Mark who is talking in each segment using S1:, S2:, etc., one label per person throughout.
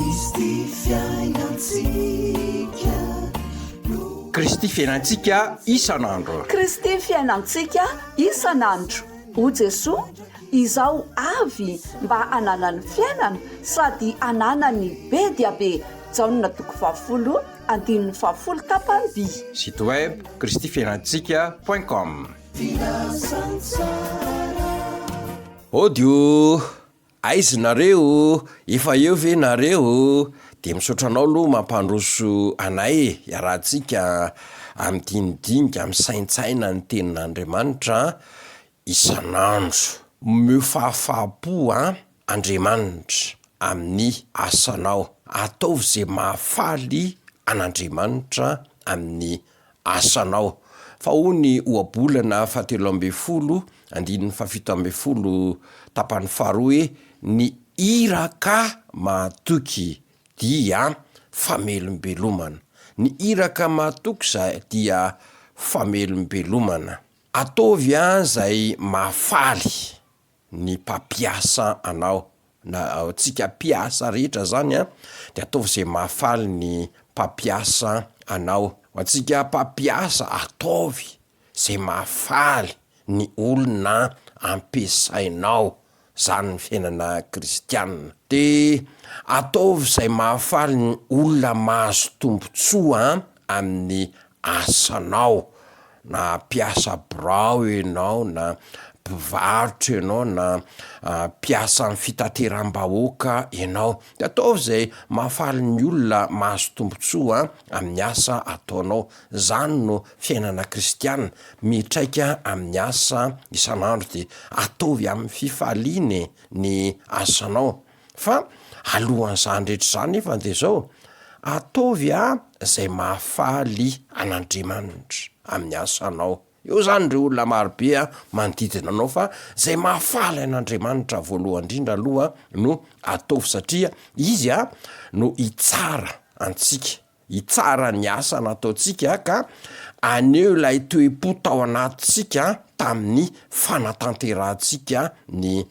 S1: Kristy fiainantsika no. Kristy fiainantsika isan'andro. Kristy
S2: fiainantsika isan'andro. O Jesoa, izaho avy mba hananany fiainana sady hananany be dia be. Jaona toko fahafolo andininy fahafolo tapany-by. Site web,
S1: Kristy fiainantsika point com. Filazantsara. Audio, Aizy nareo o! Efa eo ve nareo o! Dia misaotra anao aloha mampandroso anay e! Iarahantsika amidinidinika, misaintsaina ny tenin'Andriamanitra isan'andro. Omeo fahafahampo an Andriamanitra amin'ny asanao. Ataovy ze mahafaly an'Andriamanitra amin'ny asanao. Fa hoy ny ohabolana fahatelo ambin'ny folo, andininy fahafito ambin'ny folo, tapany faharoa hoe, Ny iraka mahatoky dia famelombelomana. Ny iraka mahatoky izay dia famelombelomana. Ataovy an izay mahafaly. ny mpampiasa anao na antsika mpiasa rehetra zany a de ataovy ze mahafaly ny mpampiasa anao ho antsika mpampiasa ataovy ze mahafaly ny olona ampiasainao zany ny fiainana kristianina de ataovy zay mahafaly ny olona mahazo tombotsoa amin'ny asanao na mpiasa birao ianao na mpivarotra ianao na mpiasa amin'ny fitateram-bahoaka ianao de ataovy izay mahafaly ny olona mahazo tombontsoa amin'ny asa ataonao, izany no fiainana kristiana, mitraika amin'ny asa isan'andro de ataovy amin'ny fifaliana e ny asanao. Fa alohan'izany rehetra izany nefa dia zao, ataovy a zay mahafaly an'Andriamanitra amin'ny asanao, eo zany ndreo olona marobe a manodidina anao fa zay mahafaly an'Andriamanitra voalohany ndrindra aloha no ataovy satria izy a no hitsara antsika. Hitsara ny asa nataontsika ka haneho ilay toe-po tao anatintsika tamin'ny fanatanterahantsika ny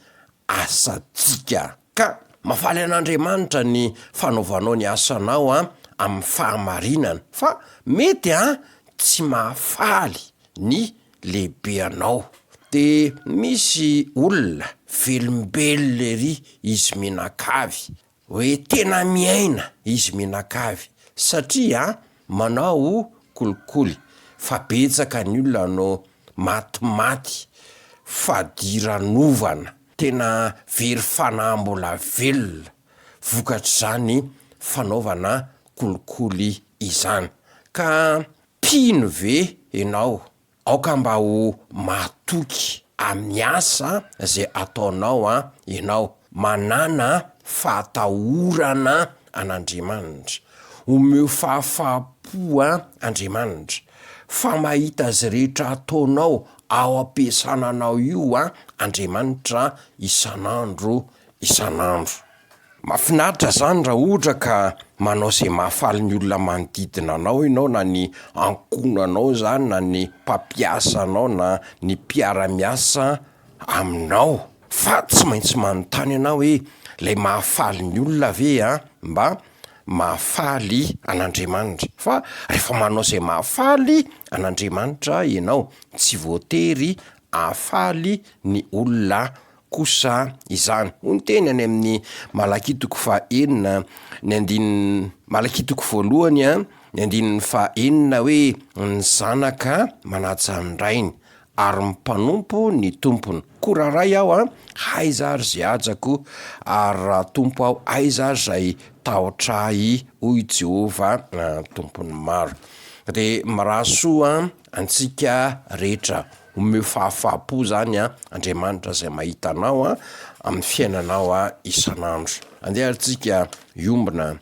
S1: asantsika. Ka mahafaly an'Andriamanitra ny fanaovanao ny asanao amin'ny fahamarinana, fa mety ha tsy mahafaly ny lehibe anao. Dia misy olona velombelona ery izy mianakavy, Hoe tena miaina izy mianakavy satria manao kolikoly fa betsaka ny olona no maty maty fadiranovana tena very fanahy mbola velona vokatr'izany fanaovana kolikoly izany ka mpino ve enao Aoka mba ho mahatoky amin'ny asa izay ataonao ianao, manàna fahatahorana an'Andriamanitra. Omeo fahafaham-po Andriamanitra, fa mahita izay rehetra ataonao ao am-piasana anao io Andriamanitra isan'andro isan'andro. Mafinaritra zany ra ohtra ka manao ze mahafaly ny olona manodidina anao enao na ny ankohonanao zany na ny mpampiasa anao na ny mpiara miasa aminao. Fa tsy maintsy manontany anao hoe lay mahafaly ny olona ve a mba mahafaly an'Andriamanitra? Fa refa manao zay mahafaly an'Andriamanitra enao tsy voatery ahafaly ny olona kosa izany. Hoy ny teny any amin'ny Malakia toko faha enina ny andininy Malakia toko voalohany a, ny andininy faha enina hoe, Ny zanaka manaja ny rainy, ary ny mpanompo ny tompony. Koa raha ray aho a, aiza ary izay hajako? ary raha tompo aho, aiza ary izay tahotra ahy? hoy Jehovah Tompon'ny maro. Dia mirary soa Antsika rehetra omeo fahafahampo zany an Andriamanitra zay mahita anao an amin'ny fiainanao isan'andro. Andeha ary tsika hiombona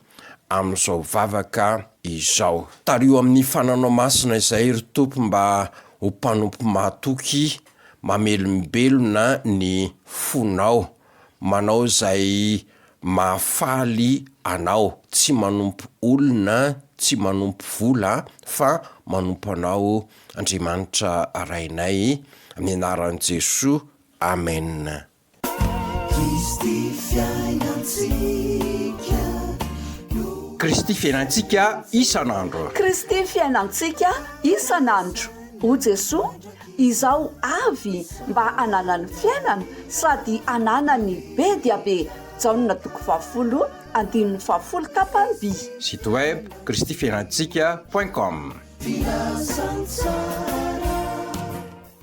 S1: amin'izao vavaka izao. Tariho amin'ny fananao masina izay ry Tompo mba ho mpanompo mahatoky mamelombelona ny fonao Manao izay mahafaly anao, tsy manompo olona, tsy manompo vola fa manompo anao Andriamanitra Rainay amin'ny anaran'i Jesoa Amen. Kristy fiainantsika no. Kristy fiainantsika isan'andro. Kristy
S2: fiainantsika isan'andro. O Jesoa, izao avy mba hananany fiainana sady hananany be dia be Jaona toko fahafolo andininy fahafolo tapany. Site
S1: web
S2: kristifiainantsika
S1: point com.